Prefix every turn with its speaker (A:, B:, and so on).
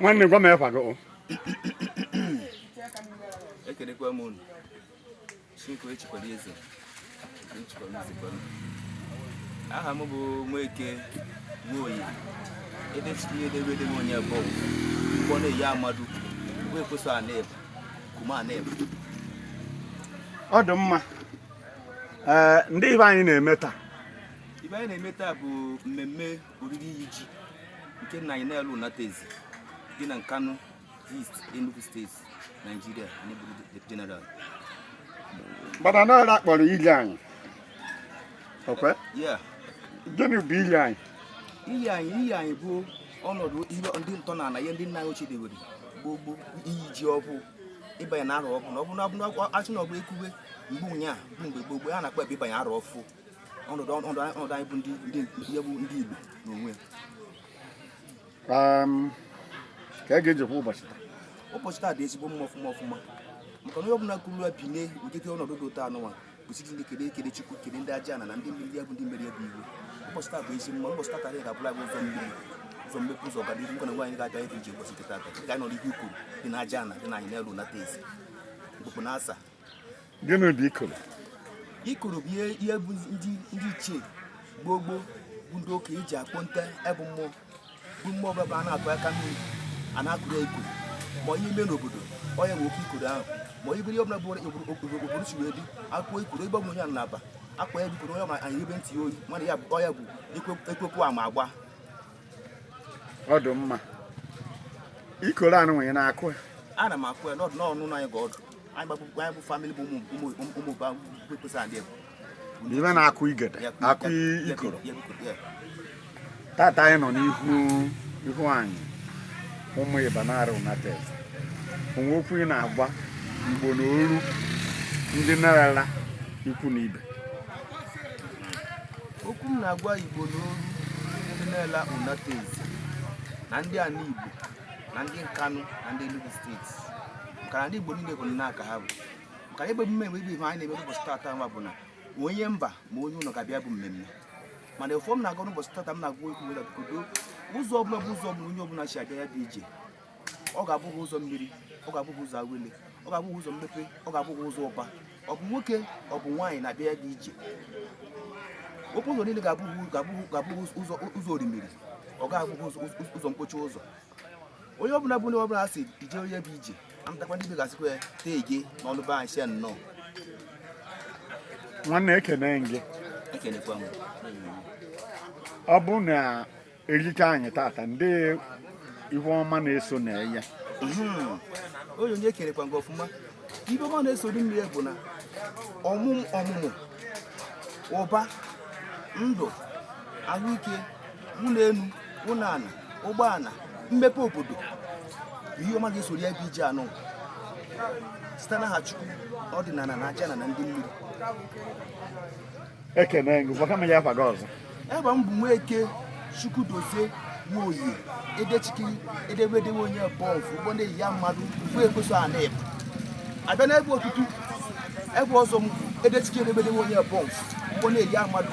A: nwanne gwa m efa gị
B: o. ekelekwa m unu chinko echikwara eze echikwara eze kwara aha m bụ Nweke Nwoye ebe chiri edebe edebe onye bụ mgbọ na-eyi amadu mgbe ekweso aneba kuma
A: aneba ọ dị mma ee ndị ihe anyị na-eme taa ihe anyị na-eme
B: taa bụ mmemme oriri iyi ji nke nna anyị Nara Unateze dị na Nkanu East Enugu steeti Naijiria n'eburu jeneral
A: mana n'ọrụ akpọrọ ili anyị ọkwa ya
B: gịnị
A: bụ ili anyị iyi anyị
B: iyi anyị bụ ọnọdụ ihe ndị ntọ na ala ihe ndị nna anyị ochie dewere gboo gboo iyi ji ọfụ ịbanye na arọ ọfụ na ọ bụ na achị na ọ bụ ekwube mgbe ụnyaahụ bụ mgbe gboo gboo a na-akpọ ebe ịbanye arọ ọfụ ọnọdụ ọnọdụ anyị ọnọdụ anyị bụ ndị ndị ihe bụ ndị Igbo n'onwe ya
A: um, ka a ga-ejikwa ụbọchị taa ụbọchị taa dị ezigbo
B: mma ọfụma ọfụma maka na onye ọbụla kụrụ ya binye ụdịdị ọnọdụ dị ụtọ anụnwa kwesịrị ndị kele ekele Chukwu kele ndị aja na na ndị mmiri ya bụ ndị mmeri ya bụ iwu ụbọchị taa bụ ezi mma ụbọchị taa karịa ga-abụla bụ ụzọ mmiri ụzọ mmepe ụzọ ọganihu nwoke na nwaanyị ga-abịa ịdị ije ụbọchị nke tata ga-anọ n'ihu ikoro dị na aja na dị na anị Nara Unateze mkpụkpụ na asa gịnị
A: bụ ikoro
B: ikoro bụ ihe bụ ndị ichie gboo gboo bụ ndị okenye ji akpọ nte ebụ mmụọ bụ mmụọ ọbụla bụ a na-akụ aka mmiri a na-akụrụ ya ikoro ma ihe mee n'obodo onye nwe oke ikoro ahụ ma onye bụrụ ihe ọbụla bụrụ obodo si wee dị a kụọ ikoro ebe ọbụla onye na-aba akwa ya bụ ikoro onye ma anyị ebe ntị oyi mana ya bụ ọya bụ ekwekwu ama
A: agba ọ dị mma ikoro anụ nwere na-akụ ya ana m akụ ya
B: n'ọdụ n'ọnụ anyị ga ọdụ ibe
A: na-akụ igede akụ ikoro tata anyị nọ n'ihu ihu anị Ụmụiba Nara Unateze o nwee okwu ị na-agwa igbo na oru ndị Nara ikwu na
B: ibe okwu m na-agwa igbo na oru ndị Nara Unateze na ndị ana igbo na ndị Nkanu na ndị Enugu steeti ka ndị Igbo niile bụ n'aka ha bụ ka ebe emume mgbe ibe ihe anyị na-eme n'ụbọchị tata nwa bụ na onye mba ma onye ụlọ ga-abịa bụ mmemme mana ọfọ m na-agọ n'ụbọchị tata m na-agwa okwu weda kodo ụzọ ọbụla bụ ụzọ ọbụla onye ọbụla si abịa ya dị ije ọ ga-abụrụ gị ụzọ mmiri ọ ga-abụrụ gị ụzọ awele ọ ga-abụrụ gị ụzọ mmepe ọ ga-abụrụ gị ụzọ ụba ọ bụ nwoke ọ bụ nwaanyị na-abịa ya dị ije okwu ụzọ niile ga-abụrụ gị ụzọ orimiri ọ ga-abụghị ụzọ mkpochi ụzọ onye ọbụla bụ onye ọbụla si ije onye bụ ije amụtakwa ndị begasịkwa ya tee gị n'ọnụ be anyị
A: nnọọ nwanne ekene gị ekenekwa m ọ bụ na erika anyị tata ndị ihe ọma na-eso na ya
B: hmm. onye onye ekenekwa gị ọfụma ihe ọma na-eso ndị mmiri bụ na ọmụmụ ụba ndụ ahụike ụlọ elu ụlọ ala ụgbọala mmepe obodo ihe ọma ga-esoro ya bụ ije anụ site n'aha chukwu ọdịnala na aja na na ndị mmiri
A: ekene gị gwakwa m ya afa gị ọzọ afa m bụ
B: nweke chukwudozie nwoye edechikiri edebedewe onye bọọlụ ụgbọ na-eyi ya mmadụ bụ ekweso a na-ebu abịa n'ebe otutu ebe ọzọ m edechikiri edebedewe onye bọọlụ ụgbọ na-eyi ya mmadụ